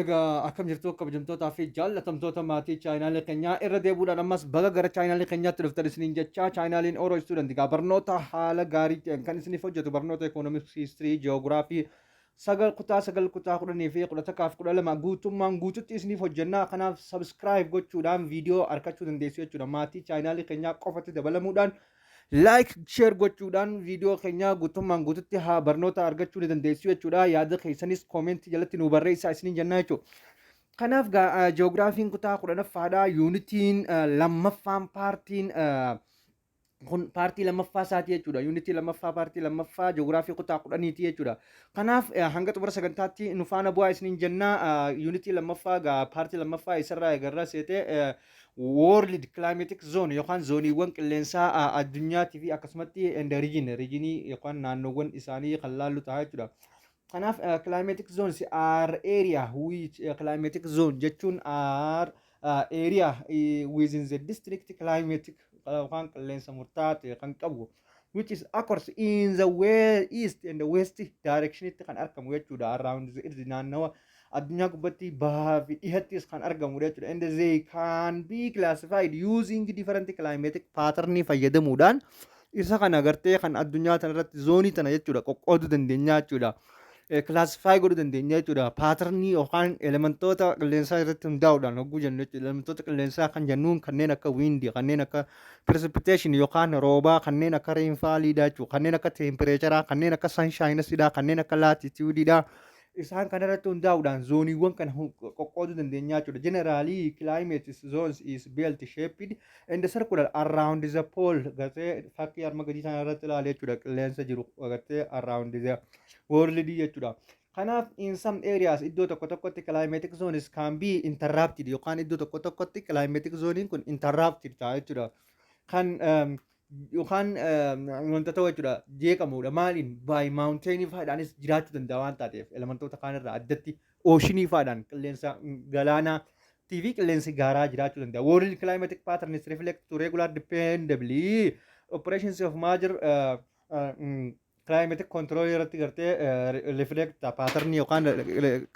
Egaa akkam jirtu kabajamtootaa fi jaallatamtoota maatii chaayinaalii keenyaa irra deebuudhaan ammas baga gara chaayinaalii keenyaatti dhuftan isiniin jechaa chaayinaaliin Oro Student egaa barnoota haala gaarii ta'een kan isiniif hojjetu barnoota ekonomiks hiistirii ji'oogiraafii sagal kutaa sagal kutaa kudhanii fi kudha takkaaf kudha lama guutummaan guututti isiniif hojjennaa kanaaf sabiskiraayib gochuudhaan viidiyoo arkachuu dandeessu jechuudha maatii chaayinaalii keenyaa qofatti dabalamuudhaan Like, share gochuudhaan viidiyoo keenya guutummaan guututti haa barnoota argachuu ni dandeessu jechuudha. Yaada keessanis koomentii jalatti nu barreessaa isiniin jennaa jechuudha. Kanaaf gaa ji'oogiraafiin kutaa kudhanaffaadha. Yuunitiin lammaffaan paartiin kun paartii lammaffaa isaati jechuudha. Yuunitii lammaffaa paartii lammaffaa ji'oogiraafii kutaa kudhaniiti jechuudha. Kanaaf hanga xumura sagantaatti nu faana bu'aa isiniin jennaa yuunitii lammaffaa gaa paartii lammaffaa isarraa egarraa seetee World Climatic Zone yookaan zooniiwwan qilleensaa a, addunyaatii fi akkasumatti and region riijinii yookaan naannoowwan isaanii kan laallu ta'a jechuudha. Kanaaf uh, climatic zones are area which uh, climatic zone jechuun are uh, area uh, within the district climatic uh, yookaan qilleensa murtaa'aa ta'e kan qabu which is occurs in the way east and the west directionitti kan argamu jechuudha around the earth naannawa addunyaa gubbatti bahaa fi dhihattis kan argamudha jechuudha and they can be classified using different climatic pattern fayyadamuudhaan isa kana gartee kan addunyaa tana irratti zoonii tana jechuudha qoqqooduu dandeenya jechuudha. kilaasifaayi godhuu dandeenya jechuudha. Paatarnii yookaan elementoota qilleensaa irratti hundaa'uudhaan hogguu jennu jechuudha. Elementoota qilleensaa kan jennuun kanneen akka wiindii, kanneen akka precipitation yookaan roobaa, kanneen akka reenfaaliidhaa jechuudha. Kanneen akka teempireecharaa, kanneen akka sanshaayinasidhaa, kanneen akka laatitiyuudiidhaa. Isaan kana irratti hundaa'uudhaan zooniiwwan kana qoqqooduu dandeenya jechuudha. Generaalii climate zones is belt shaped in the circular around the pole gartee fakkii arma gadii sana irratti ilaale jechuudha qilleensa jiru gartee around the world jechuudha kanaaf in some areas iddoo tokko tokkotti climatic zones can be interrupted yookaan iddoo tokko tokkotti climatic zonein kun interrupted ta'a jechuudha kan yookaan wanta ta'u jechuudha jeeqamuudha maaliin by mountain faadhaanis jiraachuu danda'a waan taateef elementoota kaan irraa addatti ooshinii faadhaan qilleensa galaanaa TV qilleensi gaaraa jiraachuu danda'a world climatic patterns reflect to regular dependably operations of major uh, uh, mm, climate control irratti gartee uh, reflect pattern yookaan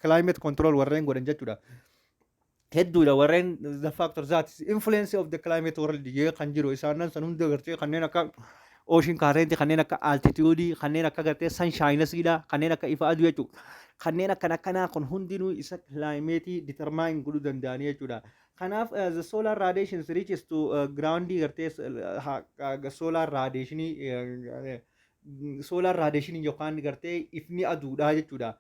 climate control warreen godhan jechuudha hedduudha warreen the factor that is influence of the climate world jee kan jiru isaanan san hunda gartee kanneen akka ocean current kanneen akka altitude kanneen akka gartee sunshine siidha kanneen akka ifa aduu jechuudha kanneen akkan akkanaa kun hundinuu isa climate determine godhuu danda'anii jechuudha kanaaf uh, the solar radiations reaches to uh, ground gartee uh, ha- uh, solar radiation uh, solar radiation yookaan gartee ifni aduudha jechuudha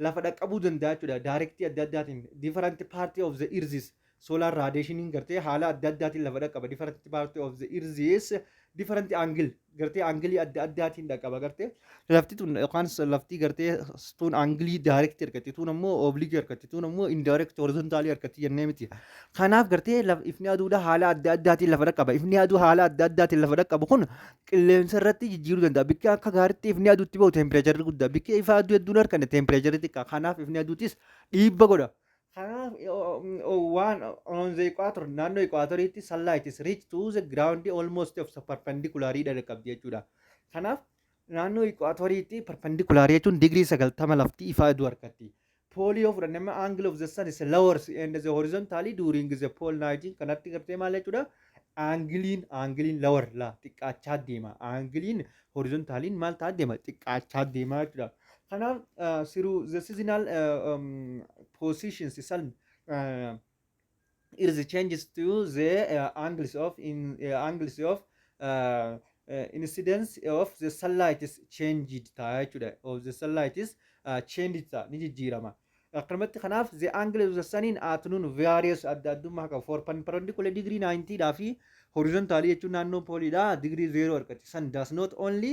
lafa dhaqqabuu danda'a jechuudha directii adda addaatiin different party of the earth's solar radiation gartee haala adda addaatiin lafa dhaqqaba different party of the earth's different angle gartee angilii adda addaatiin dhaqqaba gartee lafti tun yookaan s- lafti gartee s- tun angilii direct argatti tun ammoo oblique argatti tun ammoo indirect horizontal argatti jennee miti kanaaf gartee laf- ifni aduudha haala adda addaatiin lafa dhaqqaba ifni aduu haala adda addaatiin lafa dhaqqabu kun qilleensa irratti jijjiiruu danda'a. Bikki akka gaariitti ifni aduutti bahu teempireecharri guddaa. Bikki ifa aduu hedduun harkanne teempireecharri xiqqaa. Kanaaf ifni aduutis dhiibba godha. Kanaaf waan on the equator naannoo equatoriitti sunlight is reach to the ground almost of perpendicular dha qabdi jechuudha. Kanaaf naannoo equatoriitti perpendicular jechuun digirii sagaltama lafti ifa aduu harkatti. poolii yoo fudhanne amma angle of the sun is lowers and the horizontally during the pole night kanatti gartee maal jechuudha aangiliin aangiliin lower la xiqqaachaa deema aangiliin horizontaaliin maal ta'aa deema xiqqaachaa deema jechuudha kanaaf siruu the seasonal positions sun is changes to the uh, angles of in uh, angles of uh, uh, incidence of the sunlight is changed ta'a jechuudha of the sunlight is uh, changed ta'a ni jijjiirama akkanumatti kanaaf the angle of the sun in afternoon varies adda addummaa qaba for perpendicular degree 90 dhaa fi horizontal jechuun naannoo pooliidha degree 0 argatti sun does not only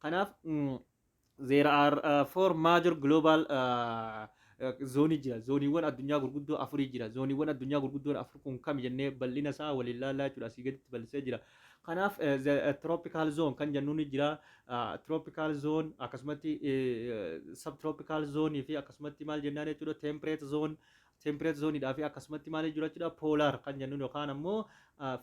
Kanaaf there are uh, four major global uh, zoonii jira zooniiwwan addunyaa gurguddoo afurii jira zooniiwwan addunyaa gurguddoon afur kun kam jennee bal'ina isaa waliin laallaa jechuudha asii gaditti bal'isee jira kanaaf tropical zone kan jennuun ni jira tropical zone akkasumatti subtropical zone fi akkasumatti maal jennaan jechuudha temperate zone temperate zone dhaa fi akkasumatti maal jechuudha jechuudha polar kan jennuun yookaan ammoo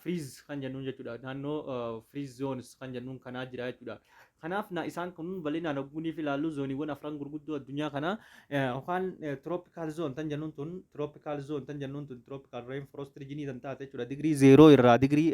freeze kan jennuun jechuudha naannoo freeze zones kan jennuun kanaa jira jechuudha. Kanaaf na isaan kun bal'inaan ogguunii fi ilaallu zooniiwwan afran gurguddoo addunyaa kana yookaan tropical zone tan jennuun tun tropical zone tan jennuun tun tropical rainforest region tan taate jechuudha digirii zeeroo irraa digirii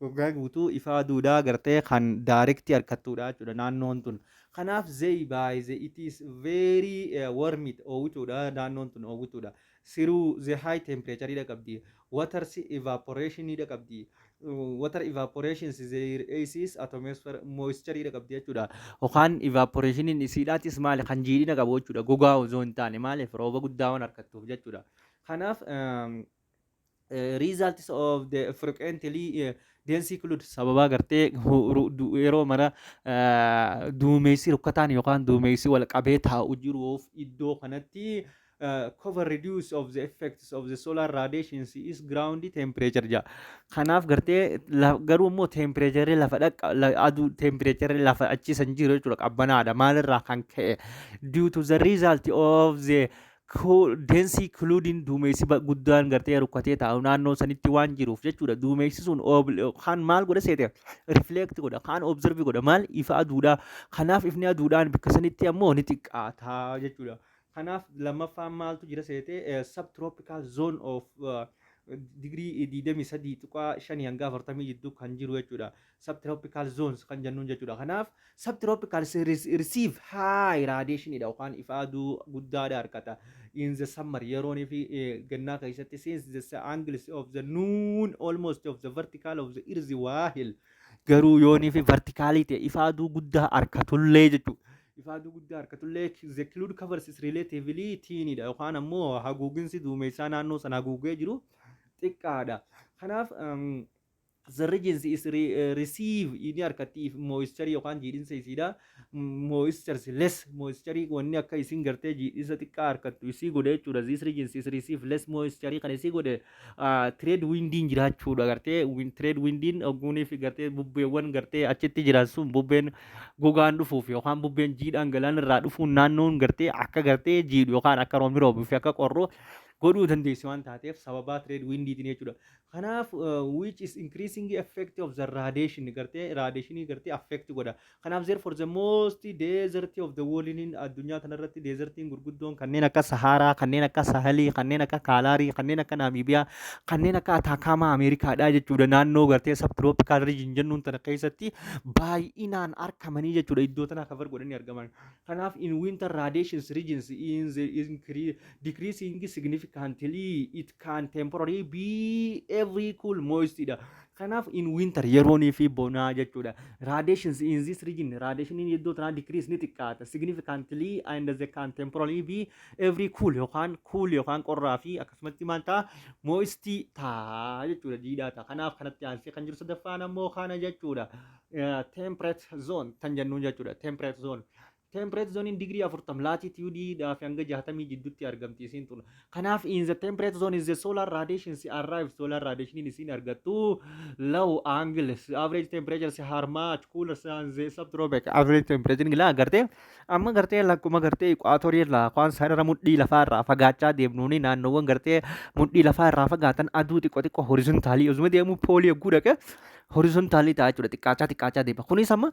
Waggaa guutuu ifa aduudhaa agartee kan direct arkattudha jechuudha naannoon tun. Kanaaf they by the it is very warmit oowwituudha naannoon tun oowwituudha. Through the high temperature hidha qabdi. Waters evaporation hidha qabdi. Water evaporations their aces atmosphere moisture hidha qabdi jechuudha. Yookaan evaporationiin isiidhaatis maali kan jiidhina qabu jechuudha gogaa osoo hin taane maaliif rooba guddaa waan argattuuf jechuudha. Kanaaf results of the frequently eh, densely include sababaa gartee hu- ru- du- yeroo mana eh, duumessi rukkataan yookaan duumessi wal qabee taa'u jiruuf iddoo kanatti eh, cover reduce of the effects of the solar radiations is ground temperature jedha. Kanaaf gartee la- garuu immoo tempereecherri lafa dhaqqa la- aduu tempereecherri lafa achiisan jiru jechuudha qabbanaadha maalirraa kan ka'e due to the result of the Densii kiluudiin duumessi guddaan gartee rukkatee taa'u naannoo sanitti waan jiruuf jechuudha. Duumessi sun kan maal godha seete rifleekti godha kan obzervi godha maal ifa aduudhaa. Kanaaf ifni aduudhaan bakka sanitti ammoo ni xiqqaata jechuudha. Kanaaf lammaffaan maaltu jira seete subtropical zone of digirii 23.5 hanga 40 jidduu kan jiru jechuudha. subtropical zones kan jennuun jechuudha. Kanaaf subtropical series receive high radiation dha yookaan ifa aduu guddaadha harkata. In the summer yeroon fi gannaa keessatti since the angles of the noon almost of the vertical of the earth waahil garuu yoonii fi vertikaalii ta'e ifa aduu guddaa harkatullee jechuudha. Ifa aduu guddaa harkatullee the cloud covers is relatively thin dha yookaan ammoo haguuginsi duumessaa naannoo sana haguugee jiru xiqqaadha. Kanaaf The regency is re, uh, receive inni harkatti if moisture yookaan jiidhinsa isiidha. Moistures less moisture wanni akka isin gartee jiidhinsa xiqqaa harkattu isii godhe jechuudha. This regency is receive less moisture kan isii godhe uh, trade windiin jiraachuudha gartee win, trade windiin ogguunii fi gartee bubbeewwan gartee achitti jiran sun bubbeen gogaan dhufuuf yookaan bubbeen jiidhaan galaan irraa dhufuun naannoon gartee akka gartee jiidhu yookaan akka roomi roobu fi akka qorru godhuu dandeessi waan taateef sababaa trade windiitiin jechuudha. Kanaaf which is increasingly effect of the radiation gartee radiation gartee affect godha. Kanaaf therefore the most desert of the world in addunyaa tanarratti desertiin gurguddoon kanneen akka Sahaaraa, kanneen akka Sahalii, kanneen akka Kaalaarii, kanneen akka Naamiibiyaa, kanneen akka Ataakaamaa Ameerikaadhaa jechuudha. Naannoo gartee subtropical region jennuun tana keessatti baay'inaan argamanii jechuudha. Iddoo tana cover godhanii argaman. Kanaaf in winter radiations regions in the increase decreasing significantly it can temporarily be every cool moist dha kanaaf in winter yeroonii fi bonaa jechuudha radiations in this region radiationiin iddoo tanaa decrease ni xiqqaata significantly and they can temporarily be every cool yookaan cool yookaan qorraa fi akkasumatti maal ta'a moist ta'a jechuudha jiidhaa ta'a kanaaf kanatti aansee kan jiru sadaffaan ammoo kana jechuudha temperate zone tan jennuun jechuudha temperate zone Temperate zone digirii 40 latitude dhaa fi hanga 60 jidduutti argamti isiin tun. Kanaaf in the temperate zone is the solar radiation si arrive solar radiation isiin argattu low angle average temperature si harmaat cooler sun the subtropic average temperature gilaa agartee amma gartee lakkuma gartee equator irraa waan sarara mudhii lafaa irraa fagaachaa deemnuuni naannoowwan gartee mudhii lafaa irraa fagaatan aduu xiqqoo xiqqoo horizontaalii osuma deemuu poolii yogguu dhaqe horizontaalii ta'a jechuudha xiqqaachaa xiqqaachaa deema kunis amma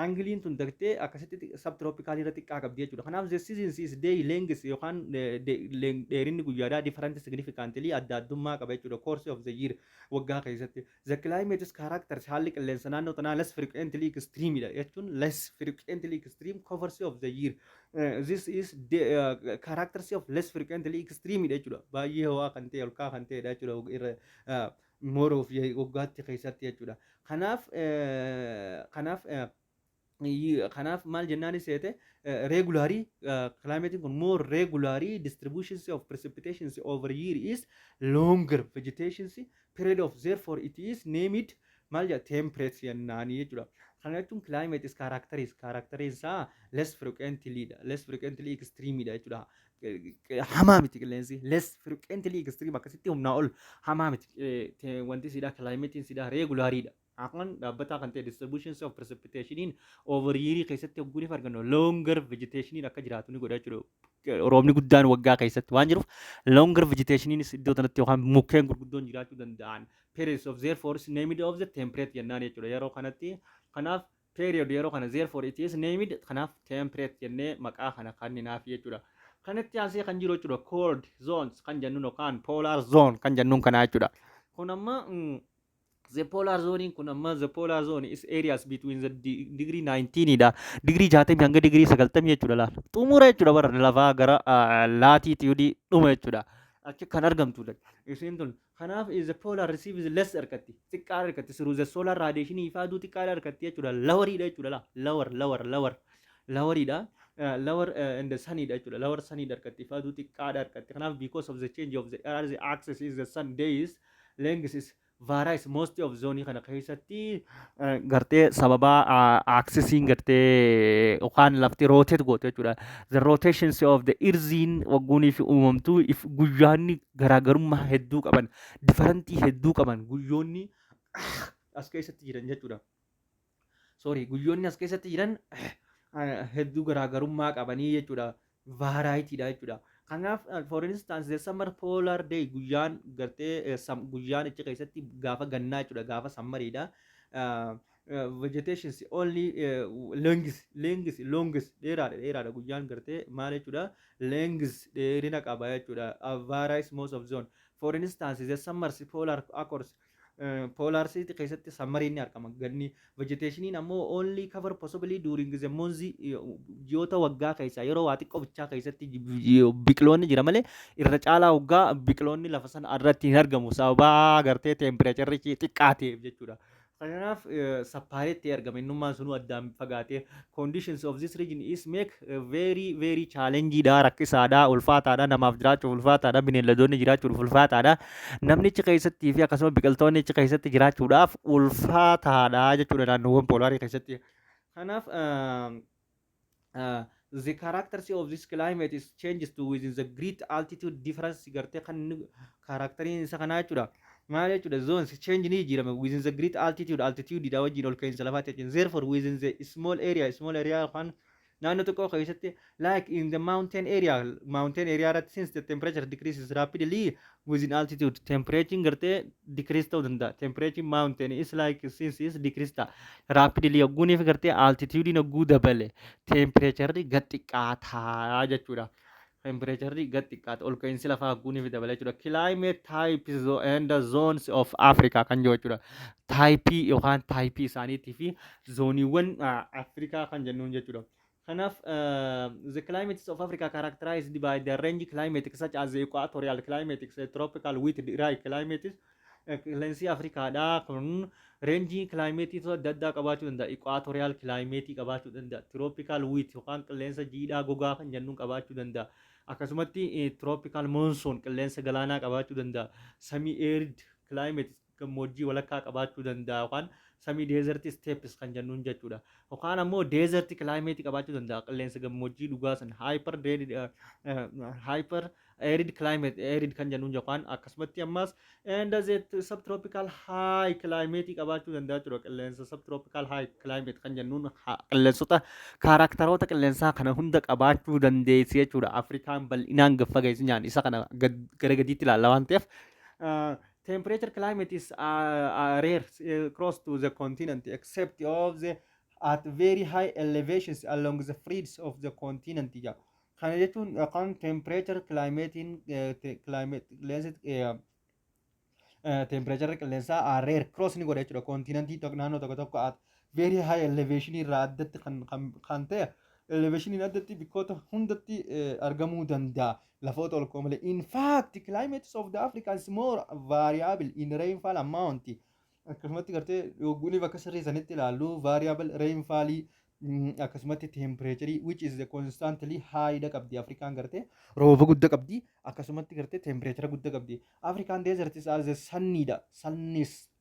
Aangiliin tun dagtee akkasitti subtropical irra xiqqaa qabdi jechuudha. Kanaaf the seasons is day length yookaan eh, de- leng- dheerinni guyyaadhaa different significantly adda addummaa qaba jechuudha. Course of the year waggaa keessatti. The climate is characters haalli qilleensa naannoo tanaa less frequently extreme dha jechuun less frequently extreme covers of the year. Eh, This is the eh, characters of less frequently extreme dha jechuudha. Baay'ee ho'aa kan ta'e olkaa kan ta'edha jechuudha. Irra, eh, more of ye- waggaatti keessatti jechuudha. Kanaaf eh, kanaaf eh, y- kanaaf maal jennaan seete regularly climate kun more regularly distributions of precipitations over year is longer vegetations period of therefore it is named maal jedha temperate jennaanii jechuudha. Kana jechuun climate is characteris characteris isaa less frequently dha less frequently extreme dha jechuudha. hamaa miti qilleensi less frequently extreme akkasitti humnaa ol hamaa miti wanti siidhaa kilaayimetiin siidhaa reegulaariidha. Afaan dhaabbataa kan ta'e distributions of precipitationin over year keessatti hogguu ni argannu longer vegetationin akka jiraatu ni godha jechuudha. Roobni guddaan waggaa keessatti waan jiruuf longer vegetationinis iddoo kanatti yookaan mukkeen gurguddoon jiraachuu danda'an periods of their forest named of the temperate jennaan jechuudha. Yeroo kanatti kanaaf period yeroo kana therefore it is named kanaaf temperate jennee maqaa kana kanninaaf jechuudha. Kanatti aansee kan jiru jechuudha cold zones kan jennuun yookaan polar zone kan jennuun kanaa jechuudha. Kun amma mm, the polar zone kun amma the polar zone is areas between the de- degree 19 dha. Degree 60 hanga degree 90 jechuudha laal. Xumura jechuudha bara lafaa gara ah, laatiitiyuudii dhuma jechuudha. Achi kan argamtudha. Isiin tun Kanaaf if the polar receives less harkatti xiqqaa harkatti through the solar radiation ifaa aduu xiqqaa harkatti jechuudha lawariidha jechuudha laa lawar lawar lawar lawariidha lawar and the saniidha jechuudha lawar saniidha harkatti ifaa aduu xiqqaadha harkatti kanaaf because of the change of the earth axis is the sun days length is varies most of zone kana keessatti gartee sababa axisiin gartee yookaan lafti rotate goote jechuudha the rotations of the earthiin waggoonii fi uumamtuu if guyyaanni garaagarummaa hedduu qaban difarantii hedduu qaban guyyoonni as keessatti jiran jechuudha. Sorry guyyoonni as keessatti jiran hedduu garaagarummaa qabanii jechuudha. Vaaraayitiidha jechuudha. Kanaaf for instance the summer polar day guyyaan gartee guyyaan ichi keessatti gaafa gannaa jechuudha gaafa sammariidha. eh, vegetations only eh, lengths lengths longs dheeraadha dheeraadha guyyaan gartee maal jechuudha lengths dheerina qaba jechuudha uh, varies most of zone for instance the summers polar accords eh, polar city keessatti sammariin ni argama ganni vegetationiin ammoo only cover possibly during the months eh, ji'oota waggaa keessaa yeroo waa xiqqoo bichaa keessatti ji- ji- biqiloonni jira malee irra caalaa waggaa biqiloonni lafa sana irratti hin argamu sababa gartee tempireecharichi xiqqaa ta'eef jechuudha Kanaaf sappaaree ta'ee argama. Innummaan sunuu addaan fagaatee conditions of this region is make very very challenge dha rakkisaadha ulfaataadha namaaf jiraachuuf ulfaataadha bineeldoonni jiraachuuf ulfaataadha namnichi keessattii fi akkasuma biqiltoonni achi keessatti jiraachuudhaaf ulfaataadha jechuudha naannoowwan poolaarii keessatti. Kanaaf the characters of this climate is changes to within the great altitude difference gartee kan inni kaaraakteriin isa kanaa jechuudha maal jechuudha zones change ni jijjiirama within the great altitude altitude dha wajjin ol ka'iinsa lafaatti jechuudha therefore within the small area small area yookaan naannoo xiqqoo keessatti like in the mountain area mountain area irratti since the temperature decreases rapidly with in altitude temperature gartee decrease ta'uu danda'a temperature mountain is like since is decrease ta'a rapidly yogguuniif gartee altitude yogguu dabale temperature gad xiqqaataa jechuudha temperature gad xiqqaata ol ka'iinsi lafaa yogguuniif dabale jechuudha climate types zo- and zones of Africa kan jiru jechuudha taayipii yookaan taayipii isaaniitii fi zooniiwwan ah, Afrikaa kan jennuun jechuudha Kanaaf, the climates of Africa characterized by the range climatic such as the equatorial climatics, eh, tropical with dry climates, eh, qilleensi Afrikaadhaa kun reenjii kilaayimeetii adda addaa qabaachuu danda'a. Equatorial climate qabaachuu danda'a. Tropical with yookaan qilleensa jiidhaa gogaa kan jennuun qabaachuu danda'a. Akkasumatti eh, tropical monsoon qilleensa galaanaa qabaachuu danda'a. Semi arid climates gammoojjii walakkaa qabaachuu danda'a yookaan semi desert steppes kan jennuun jechuudha. Yookaan ammoo desert climate qabaachuu danda'a qilleensa gammoojjii dhugaa san hyper arid eh, eh, hyper arid climate arid kan jennuun yookaan akkasumatti ammas and as it subtropical high climate qabaachuu danda'a jechuudha qilleensa subtropical high climate kan jennuun ha- qilleensota kaaraaktaroota qilleensaa kana hunda qabaachuu dandeessi jechuudha. Afrikaan bal'inaan gaffageessinyaan isa kana gad- gara gadiitti ilaalla waan ta'eef. ah, Temperature climate is uh, uh, rare uh, cross to the continent except of the at very high elevations along the fringes of the continent ja. Kana jechuun uh, kan temperature climatein uh, te- climate qilleensi uh, uh, temperature qilleensaa uh, rare cross ni godha jechuudha continentii tok- naannoo tokko tokko at very high elevation irraa addatti kan, kan, kan ta'e elevationiin addatti bikkoota hundatti eh, argamuu danda'a lafoota ol ka'oo malee in fact climates of the africa is more variable in rainfall amount akkasumatti gartee yogguuniif akka sirrii sanitti ilaallu variable rainfall mm, akkasumatti temperature which is the constantly high dha qabdi afrikaan gartee rooba gudda qabdi akkasumatti gartee temperature gudda qabdi afrikaan deserts are the sunny dha sunnis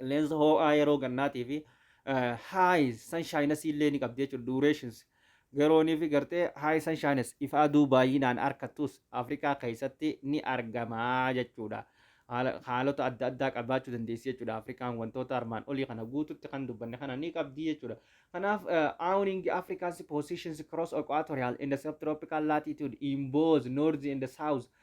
Qilleensa hoo'aa yeroo gannaatii fi highs sunshines illee ni qabdi jechuudha durations garoonii fi gartee high sunshines ifa aduu baay'inaan harkattus Afrikaa keessatti ni argama jechuudha. Haala- Haalota adda addaa qabaachuu dandeessi jechuudha. Afrikaan wantoota armaan olii kana guututti kan dubbanne kana ni qabdi jechuudha. Kanaaf awning Africa's positions cross equatorial and subtropical latitude in both north and south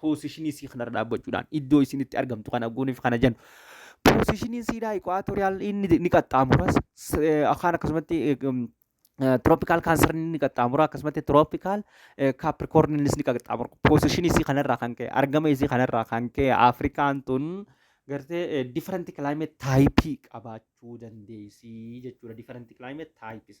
poosishinii isii kanarra dhaabbachuudhaan iddoo isin itti argamtu kana guuniif kana jennu. Poosishiniin siidaa ikwaatoriyaalin inni ni qaxxaamuras akaan akkasumatti tirooppikaal kaansarin inni qaxxaamura akkasumatti tirooppikaal kaaprikoorniinis ni qaxxaamura. Poosishinii isii kanarraa kan ka'e argama isii kanarraa kan ka'e Afrikaan tun gartee different climate taayipii qabaachuu dandeessi jechuudha. Different climate taayipis.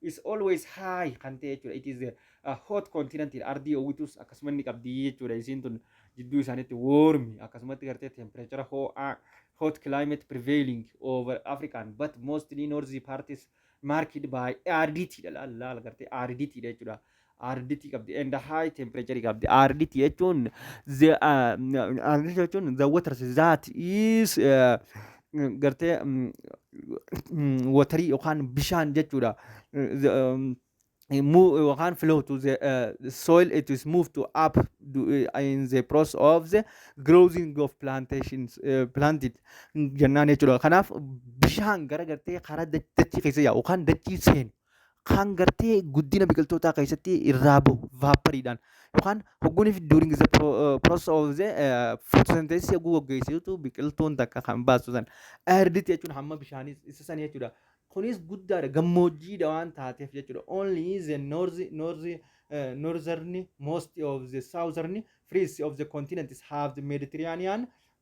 is always high kan ta'e jechuudha. It is a hot continent ardii oowwitus akkasuma inni qabdi jechuudha. Isiin tun jidduu isaaniitti warmi akkasumatti gartee temperature ho'aa hot climate prevailing over African but mostly northy parties marked by aridity dha laal laal gartee aridity dha jechuudha. aariditii qabdi and high temperature qabdi aariditii jechuun the uh, aariditii jechuun the water that is uh, gartee mm, mm, watarii yookaan bishaan jechuudha The, um, move yookaan flow to the uh, soil it is moved to up do, uh, in the process of the growing of plantations uh, planted jennaan jechuudha kanaaf bishaan gara gartee karaa dach- dachii keessa yaa'u yookaan dachii seenu kan gartee guddina biqiltootaa keessatti irraa bahu vaapariidhaan yookaan hogguuniif during the pro- uh, process of the uh, photosynthesis yogguu gaggeessitu biqiltuun takka kan baastu san airditti jechuudha hamma bishaanii isa san jechuudha kunis guddaadha gammoojjiidha waan taateef jechuudha only the north north uh, northern most of the southern frees of the continents have the mediterranean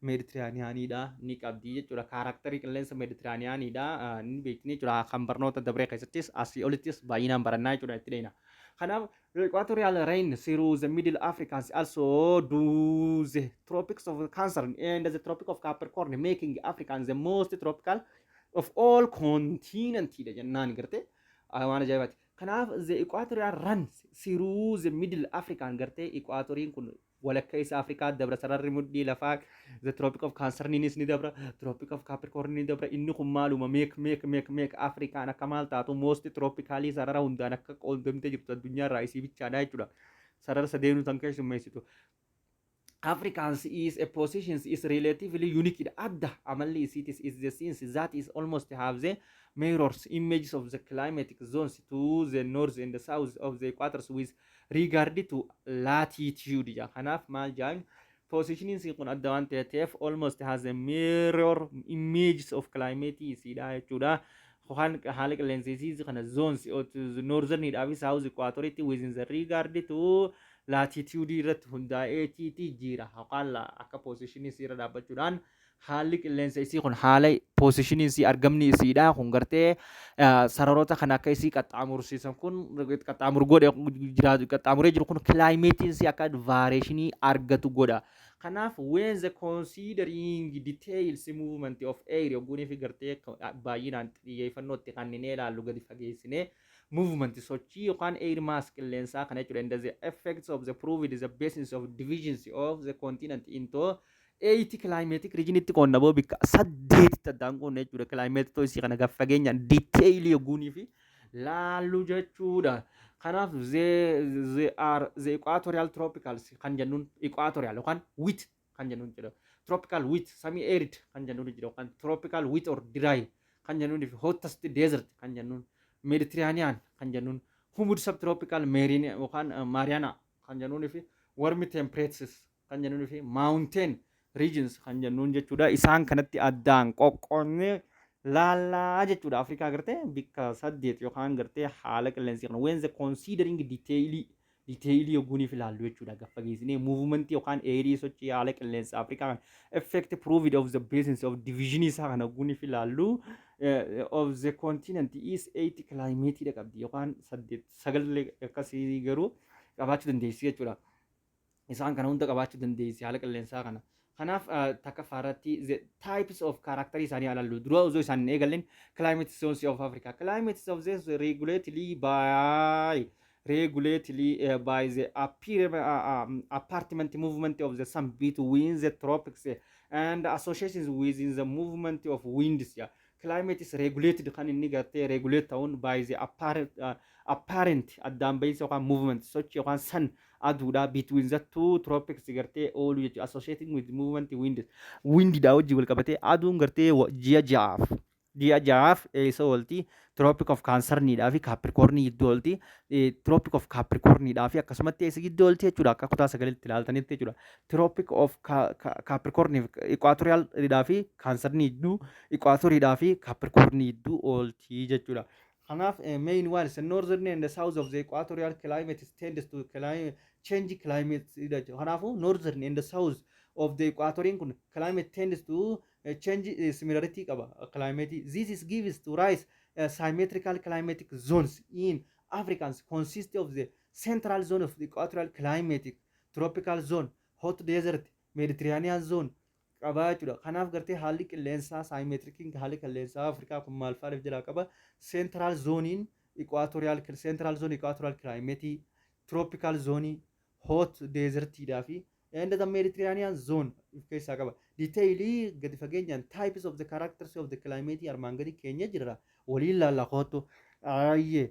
Meeditiraaniyaaniidha ni qabdi jechuudha. Kaaraakterii qilleensa Meeditiraaniyaaniidha ni beekni jechuudha. Kan barnoota dabree keessattis asii olittis baay'inaan barannaa jechuudha itti dheeyna. Kanaaf equatorial rain through the middle Africans also do the tropics of Cancer and the tropic of Capricorn making African the most tropical of all continent dha jennaan gartee waan ajaa'ibaati. Kanaaf the equatorial runs through the middle African gartee equatoriin kun walakkeessa Afrikaa dabra sararri mudhii lafaa the tropic of Cancerniniis ni dabra tropic of Capricorn ni dabra inni kun maaluma meek meek meek meek Afrikaan akka maal taatu moosti troopikaalii sarara hundaan akka qoodamtee jirtu addunyaa irraa isii bichaadha jechuudha sarara sadeenuu tan keessummeessitu Africans is a positions is relatively unique dha adda amalli isiitis is the scenes that is almost have the mirrors images of the climatic zones to the north and the south of the equators with Regard to latitude jedha. Kanaaf maal jedhan? Positionin isii kun adda waan ta'eef almost has a mirror images of climate isiidha jechuudha. Kan haala qilleensa isii kana zones northern dhaa fi south equator itti within the regard to latitude irratti hundaa'eetiiti jira. Haqaalla akka position isii irra dhaabbachuudhaan haalli qilleensa isii kun haala poosishiniin isii argamni isiidha kun gartee sararoota kana akka isii qaxxaamursiisan kun qaxxaamur godhe jiraatu qaxxaamuree jiru kun kilaayimeetiin isii akka vaareeshinii argatu godha. Kanaaf when the considering details movement of air yogguunii fi gartee baay'inaan xiyyeeffannoo itti kanninee ilaallu gadi fageessinee movement sochii yookaan air mass qilleensaa kana jechuudha and the effects of the proved the basis of divisions of the continent into eeyitii kilaayimeetik riijinitti qoonna boo bikka saddeetitti addaan qoonna jechuudha kilaayimeetitoo isii kana gaf fageenyaan diiteeyilii yogguunii fi laallu jechuudha. Kanaaf ze are ze equatorial tropicals kan jennuun equatorial yookaan wit kan jennuun jedha. Tropical wit semi arid kan jennuun jedha yookaan tropical wit or dry kan jennuun fi hottest desert kan jennuun Mediterranean kan jennuun humid subtropical marine yookaan Mariana kan jennuun fi warm temperatures kan jennuun fi mountain regions kan jennuun jechuudha. Isaan kanatti addaan qoqqoodnee laallaa jechuudha. Afrikaa agartee bikka saddeet yookaan gartee haala qilleensi kana when the considering detailii detailii yogguuniif ilaallu jechuudha. Gaffa geessinee muuvumentii yookaan eerii sochii haala qilleensa Afrikaa kana effect proved of the presence of division isaa kana yogguuniif ilaallu of the continent is eight climate dha qabdi yookaan saddeet sagallee akkasii garuu qabaachuu dandeessi jechuudha. isaan kana hunda qabaachuu dandeessi haala qilleensaa kana. Kanaaf takkaffaa irratti the types of character isaanii alallu dura osoo isaan hin eegalleen climate zones of Africa. Climate zones regulatedly by regulatedly uh, by the appear, uh, um, apartment movement of the sun between the tropics and associations within the movement of winds. Yeah. climate is regulated kan inni gartee regulate ta'uun by the apparent, uh, apparent addaan bahiinsa yookaan movement sochi yookaan sun aduudha between the two tropics gartee oolu jechuudha associating with movement winds windidhaa wajjin wal qabatee aduun gartee wa- ji'a ja'aaf ji'a ja'aaf eessa oolti tropic of cancerniidhaa fi capricorn gidduu oolti Eh, tropic of capricorniidhaa fi akkasumatti eessa gidduu oolti jechuudha akka kutaa sagalitti ilaaltanitti jechuudha Tropic of Capricorn fi Equatorial dhaa fi Cancer ni jidduu, Equator dhaa fi Capricorn ni jidduu oolti jechuudha. Kanaaf main ones northern and south of the equatorial climate tends to climate change climate jechuudha. Kanaafuu northern and south of the equatoriin kun climate tends to change similarity qaba climate. This is gives to rise uh, symmetrical climatic zones in Africans consist of the central zone of the equatorial climatic tropical zone, hot desert, Mediterranean zone qabaa jechuudha. Kanaaf gartee haalli qilleensaa saayimeetirikiin haalli qilleensaa Afrikaa kun maal faaliif jalaa qaba? Central zonein equatorial central zone equatorial climate, tropical zone, hot desert dhaa fi and the Mediterranean zone of keessaa qaba. Detailii gadi fageenyaan types of the characters of the climate armaan gadi keenya jirra. Waliin laalla koottu. Ayyee.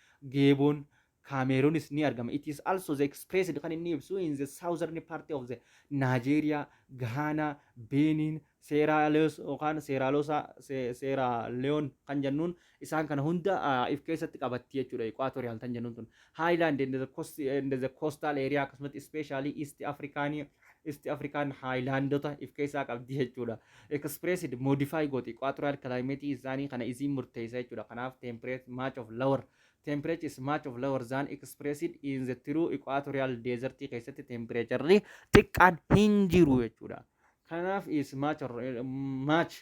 Geeboon Kaameeruunis ni argama. It is also the expressed kan inni ibsu in the southern part of the Nigeria, Ghana, Benin, Seeraa Leos yookaan Seeraa Loosaa, Se- Seeraa Leon kan jennuun isaan kana hunda ah, if keessatti qabatti jechuudha equatorial tan jennuun tun. Highland and the coast and the coastal area akkasumatti especially East African Isti Afrikaan haayilaandota if keessaa qabdi jechuudha. Expressed, modify gooti. Equatorial climate isaanii kana isiin murteessa jechuudha. Kanaaf temperate much of lower. Temperature is much of lower than expressed in the true equatorial desert keessatti temperature'ri xiqqaan hin jiru jechuudha. Kanaaf is much, or, eh, much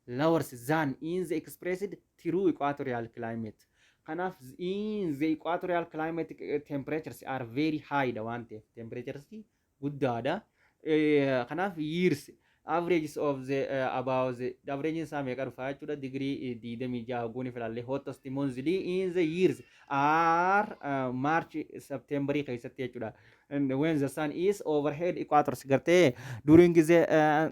lower than in the expressed true equatorial climate. Kanaaf in the equatorial climate eh, temperatures are very high dha waan ta'eef temperatures guddaadha. Kanaaf years averages of the uh, about the average isaa meeqa dhufa jechuudha digirii digdamii jaha goone filaallee hottest monthly in the years are uh, march september keessatti jechuudha when the sun is overhead equators gartee during the uh,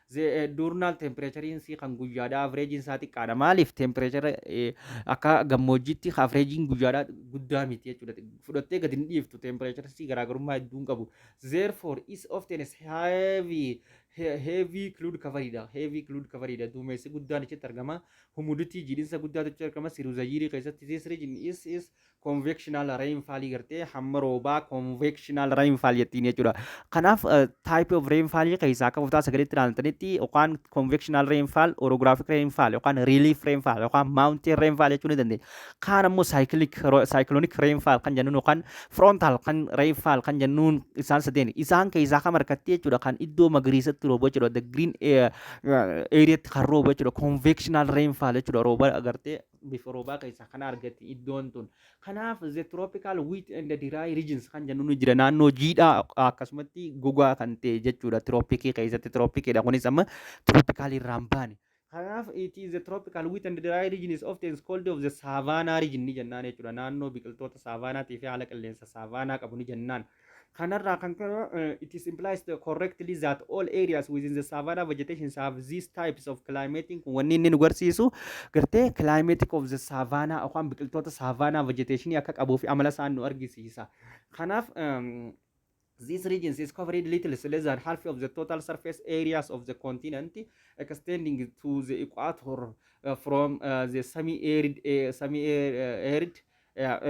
Duurnal tempireechariin sii kan guyyaadhaa avreejiin isaa xiqqaadha. Maaliif tempireechara akka gammoojjiitti avreejiin guyyaadhaa guddaa miti jechuudha. Fudhattee gadi hin dhiiftu tempireechara sii garaagarummaa hedduu hin qabu. Therefore is often is heavy heavy cloud coveridha. Heavy cloud coveridha. Duumessi guddaan achitti argama. Humidity jiidhinsa guddaatu achitti argama. Siruuzayiirii keessatti this region is is convectional rainfall gartee hamma roobaa convectional rainfall jettiin jechuudha. Kanaaf eh, type of rainfall keessaa akka kutaa sagalitti ilaaltanitti yookaan convectional rainfall, orographic rainfall yookaan relief rainfall yookaan mountain rainfall jechuu ni dandeenya. Kaan ammoo cyclic ro- cyclonic rainfall kan jennuun yookaan frontal kan rainfall kan jennuun isaan sadeen isaan keessaa kam harkatti jechuudha kan iddoo magariisatti rooba jechuudha the green eh, eh, areatti kan rooba jechuudha convectional rainfall jechuudha rooba agartee bifa roobaa keessaa kan argatti iddoon tun. Kanaaf the tropical wheat and dry regions kan jennu ni jira naannoo jiidhaa akkasumatti gogaa kan ta'e jechuudha tiroopikii keessatti tiroopikiidha kunis amma tiroopikaalii irraan baane. Kanaaf it is the tropical wheat and dry region is often called of the savanna region ni jennaan jechuudha. Naannoo biqiltoota saavaanaatii fi haala qilleensa saavaanaa qabu ni jennaan. Kanarraa kan ka'e eh, it is implies the correctly that all areas within the savanna vegetations have these types of climating kun wanni inni nu garsiisu gartee climatic of the savanna yookaan biqiltoota savanna vegetation akka qabuu fi amala isaan nu argisiisa. Kanaaf um, These regions is covered little less than half of the total surface areas of the continent, extending to the equator uh, from uh, the semi-arid uh, semi-arid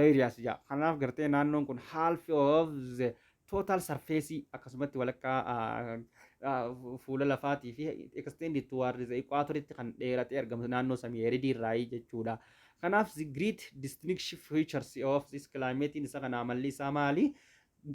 areas jaa kanaaf gartee naannoon kun half of the total surface akkasumatti walakkaa fuula lafaatii fi extended towards the equator itti kan dheeratee argamu naannoo samii eridii irraayii jechuudha. Kanaaf the great distinction features of this climate isa kana amalli isaa maali?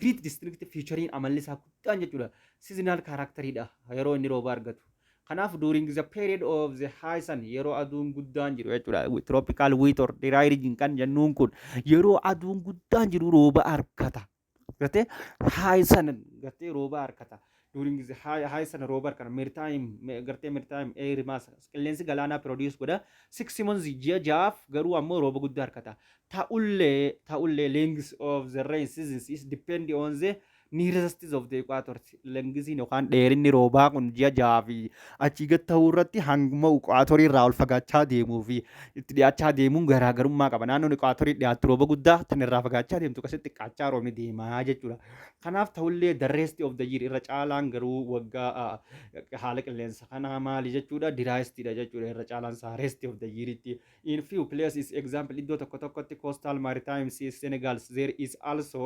Great District featuring amalli isaa guddaan jechuudha. Seasonal character dha yeroo inni rooba argatu. Kanaaf during the period of the high sun yeroo aduun guddaan jiru jechuudha. Tropical wheat or dry region kan jennuun kun yeroo aduun guddaan jiru rooba argata. Gattee high sun gattee rooba argata. during the high high sana rover kana maritime ma- gartee maritime air mass qilleensi galaanaa produce godha six months ji'a ja'aaf garuu ammoo rooba guddaa harkata ta'ullee ta'ullee length of the rain seasons is depend on the nearest of the equator lengisiin yookaan dheerinni roobaa kun ji'a ja'aa fi achii gad ta'uu irratti hanguma equaatorii irraa ol fagaachaa deemuu fi itti dhiyaachaa deemuun garaagarummaa qaba naannoon equaatorii dhiyaattu rooba guddaa tan irraa fagaachaa deemtu akkasitti xiqqaachaa roobni deemaa jechuudha Kanaaf ta'ullee the rest of the year irra caalaan garuu waggaa haala qilleensa kanaa maali jechuudha diraayistii dha jechuudha irra caalaan isaa rest of the year itti in few places example iddoo tokko tokkotti coastal maritime sea Senegal there is also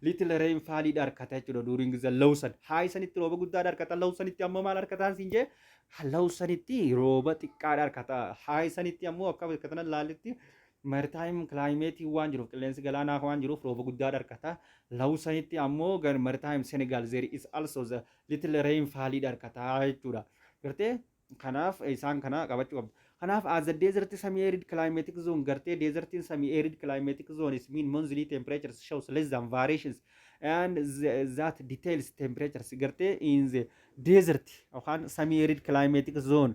little rainfall dha harkata jechuudha during the low sun high sanitti rooba guddaa dha harkata low sanitti ammoo maal harkataan siin jee low sanitti rooba xiqqaa dha harkata high sanitti ammoo akka harkatanan laalitti Maritime climate waan jiruuf qilleensi galaanaa waan jiruuf rooba guddaa dharkata. Law sanitti ammoo gar maritime Senegal there is also the little rain faalii dharkata jechuudha. Gartee kanaaf isaan kana qabachuu qabda. Kanaaf as the desert semi arid climatic zone gartee desertiin semi arid climatic zone is mean monthly temperatures shows less than variations and that details temperatures gartee in the desert yookaan semi arid climatic zone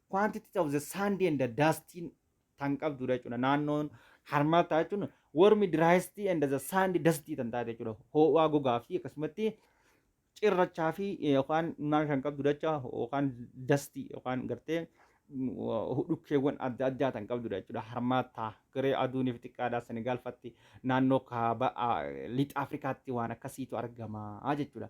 quantity of the sand and the dust tan qabdudha jechuudha naannoon harmaataa jechuun wormi driest and the sand dust tan taate jechuudha hoo'aa gogaa fi akkasumatti cirrachaa fi yookaan maal kan qabdu dacha yookaan dasti yookaan gartee dhukkeewwan adda addaa tan qabdudha jechuudha harmaataa garee aduuniif xiqqaadhaa senegaalfatti naannoo kaaba lixa afrikaatti waan akkasiitu argama jechuudha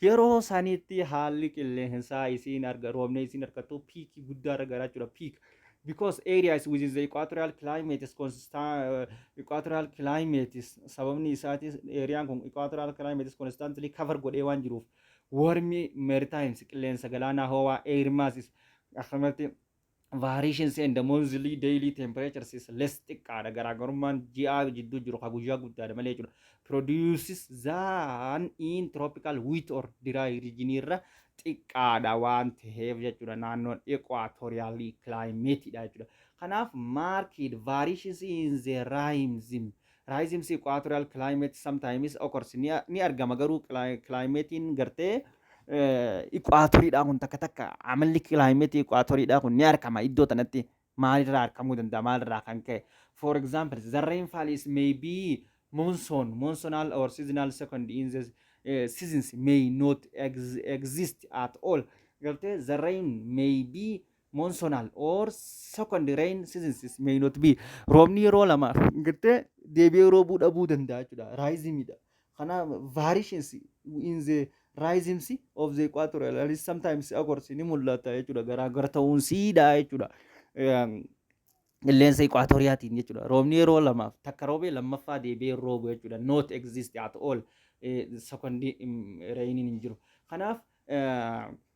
Yeroo sanitti haalli qilleensaa isiin arga roobni isiin argattu piikii guddaa irra gara jechuudha peak because area is within the equatorial climate is constant uh, equatorial climate is sababni isaatis eriyaan kun equatorial climate is constantly cover godhee waan jiruuf warmi meritimes qilleensa galaanaa ho'aa air masses akkasumatti variations and the monthly daily temperatures is less xiqqaadha garaagarummaan ji'aa jidduu jiru ka guyyaa guddaadha malee jechuudha produces than in tropical wheat or dry region irra xiqqaadha waan ta'eef jechuudha naannoon equatorial climate dha jechuudha kanaaf market variations in the rhymes Rhythms equatorial climate sometimes occurs ni, ni argama garuu kilaayimeetiin gartee iquaatoriidhaa kun takka takka amalli kilaayimeetii iquaatoriidhaa kun ni argama iddoo tanatti maalirraa argamuu danda'a maalirraa kan ka'e for example the rainfall is may be monsoon monsonal or seasonal second in the uh, seasons may not ex exist at all gartee the rain may be monsonal or second rain seasons may not be roobni yeroo lama gartee deebi'ee roobuu dhabuu danda'a jechuudha raayizimiidha kana variations in the raayizimsi of the equatorial and sometimes occurs ni mul'ata jechuudha garaagar ta'uun siidha jechuudha qilleensa equatoriyaatiin jechuudha roobni yeroo lamaaf takka roobee lammaffaa deebi'ee roobu jechuudha not exist at all second rainiin hin jiru kanaaf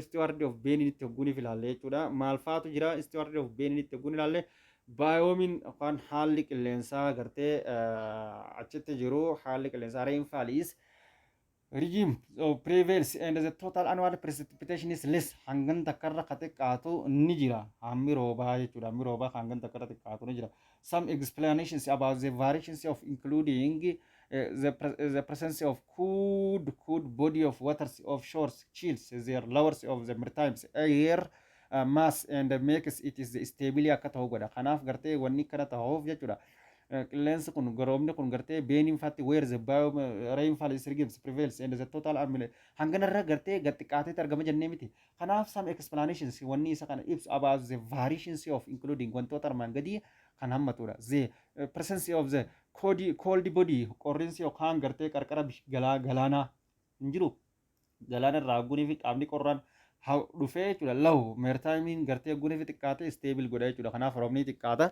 Steward of Beninitti hogguun if ilaalle jechuudha. Maal faatu jira Steward of Beninitti hogguun ilaalle baayoomiin yookaan haalli qilleensaa gartee achitti jiru haalli qilleensaa rainfall is regime of prevails and the total annual precipitation is less hangan takkarra ka xiqqaatu ni jira hammi roobaa jechuudha hammi roobaa ka hangan takkarra xiqqaatu ni jira some explanations about the variations of including uh, the, pre- the presence of cold, cold body of waters of shores, chills, their lowers of the maritime air uh, mass and makes it is stably akka ta'u godha. Kanaaf gartee wanni kana ta'uuf jechuudha. Uh, Qilleensi kun garoomni kun gartee beeniin faatti where the bio rainfall is regimes prevails and the total amile hanganarra gartee gaxxiqaateetti argama jennee miti. Kanaaf some explanations wanni isa kana ibsu about the variations of including wantoota armaan gadii kan hammatudha. The eh, presence of the cold, cold body qorrinsi yookaan gartee qarqara bish- galaa- galaanaa hin jiru. Galaana irraa haggunii fi qaamni qorraan ha- dhufee jechuudha. Law meertaayimiin gartee haggunii fi xiqqaate stable godha jechuudha. Kanaaf roobni xiqqaata.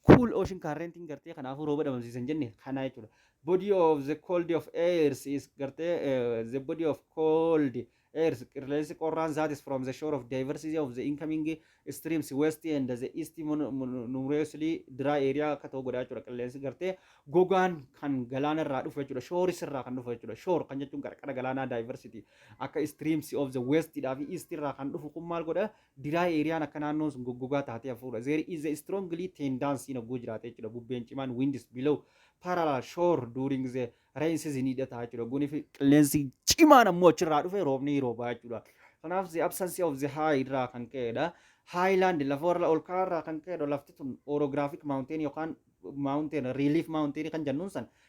cool ocean currentiin gartee kanaafuu rooba dhabamsiisan jenne kanaa jechuudha. Body of the cold of airs is gartee eh, the body of cold airs qilleensi qorraan isaatis from the shore of diversity of the incoming streams west and the east mon- mon- numerously dry area akka ta'u godhaa jechuudha qilleensi gartee gogaan kan galaana irraa dhufu jechuudha shooris irraa kan dhufu jechuudha shoor kan jechuun qarqara galaanaa diversity akka streams of the west dhaa fi east irraa kan dhufu kun maal godha Dry area-n akka naannoon sun goggogaa taatee hafuudha. There is a strongly tendency hin hogguu jiraate jechuudha. Bubbeen cimaan winds below parallel shore during the rain season ni hidhata jechuudha. Hogguun fi qilleensi cimaan ammoo achirraa dhufe roobni ni roobaa jechuudha. Kanaaf the absence of the high irraa kan ka'edha. Highland lafa warra ol ka'aa irraa kan ka'edha. Lafti tun orographic mountain yookaan mountain relief mountain kan jennuun san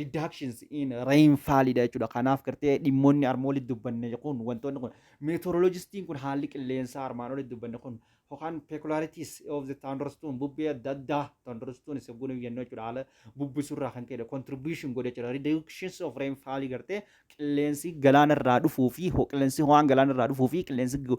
reductions in rainfall dha jechuudha. Kanaaf gartee dhimmoonni arma olitti dubbanne kun wantoonni kun meteorologistiin kun haalli qilleensaa armaan olitti dubbanne kun yookaan peculiarities of the thunderstorm bubbee adda addaa thunderstorm isa gunu jennu jechuudha haala bubbisurraa kan ka'e contribution godhe jechuudha reductions of rainfall gartee qilleensi galaanarraa dhufuu fi ho- qilleensi ho'aan galaanarraa dhufuu fi qilleensi gu-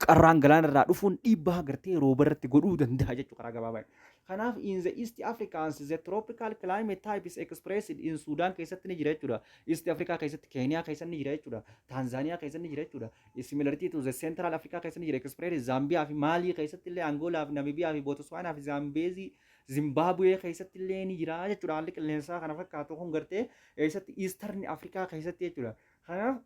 qarraan galaanarraa dhufuun dhiibbaa gartee roobarratti godhuu danda'a jechuudha karaa gabaabaa Kanaaf in the East Africans the tropical climate type is expressed in Sudan keessatti ni jira jechuudha. East Africa keessatti Kenya keessatti ni jira jechuudha. Tanzania keessatti ni jira jechuudha. Similarity to the Central Africa keessatti ni jira expressed Zambia fi Mali keessatti illee Angola fi Namibia fi Botswana fi Zambezi Zimbabwe keessatti illee ni jira jechuudha. Haalli qilleensaa kana fakkaatu kun gartee eessatti Eastern Africa keessatti jechuudha. Kanaaf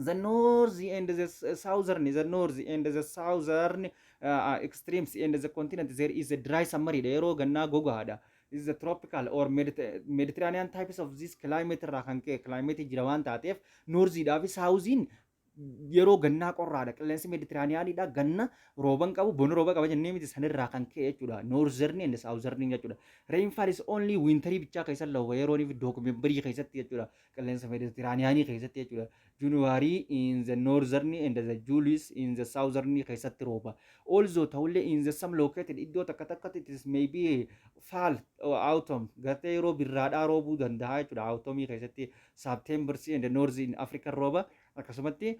the north and the s- southern the north and the southern uh, uh, extremes and the continent there is a dry summer dha yeroo gannaa gogaadha is the tropical or Mediter- mediterranean types of this climate irraa kan ka'e climate jira waan taateef noorziidhaa fi saawuziin yeroo gannaa qorraadha qilleensi meditiraaniyaaniidha ganna rooban qabu boni rooba qaba jennee miti sanirraa kan ka'e jechuudha noorzerni and saawuzerni jechuudha reenfaal is only wiintarii bichaa keessa looba yerooniif dookumembarii keessatti jechuudha qilleensa Meditiraaniyaanii keessatti jechuudha. Junuwaarii in the northern and the Julius in the southern keessatti rooba. Also ta'ullee in the some located iddoo takka takkatti it is may be fall or autumn gartee yeroo birraadhaa roobuu danda'a jechuudha. Autumn keessatti September and north in Africa rooba. Akkasumatti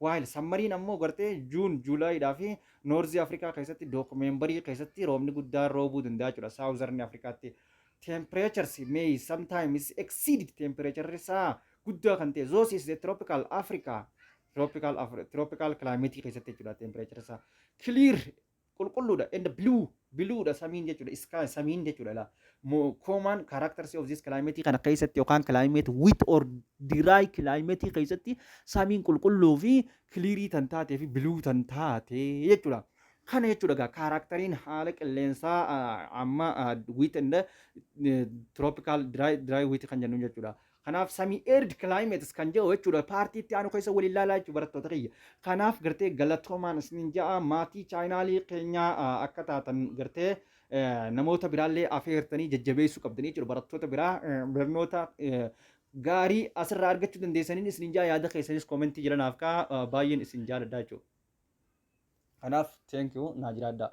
While Sammariin ammoo gartee June, July dhaa fi North Africa keessatti Documenbarii keessatti roobni guddaan roobuu danda'a jechuudha Southern Africaatti. Temperatures may sometimes exceed temperature isaa guddaa kan ta'e those is the tropical Africa tropical Afri- tropical climate keessatti jechuudha temperature isaa clear qulqulluudha and blue blue dha samiin jechuudha sky samiin jechuudha la mo common characters of this climate kana keessatti yookaan climate wet or dry climate keessatti samiin qulqulluu fi kiliirii tan taatee fi biluu tan taate jechuudha. Kana jechuudha gaa kaaraktariin haala qilleensaa ah, amma wit and tropical dry dry wit kan jennu jechuudha. Kanaaf semi-arid climates kan jedhu jechuudha paartii itti aanu keessa waliin ilaalaa jechuudha barattoota kiyya. Kanaaf gartee galatoomaan isiniin ja'a maatii chaayinaalii keenyaa ah, akka taatan gartee eh, namoota biraallee afeertanii jajjabeessuu qabdanii jechuudha barattoota biraa eh, barnoota eh, gaarii asirraa argachuu dandeessaniin isiniin ja'a yaada keessanis koomentii jala naaf kaa'aa eh, baay'een isin jaaladha jechuudha. Kanaaf thank you naa jiraadhaa.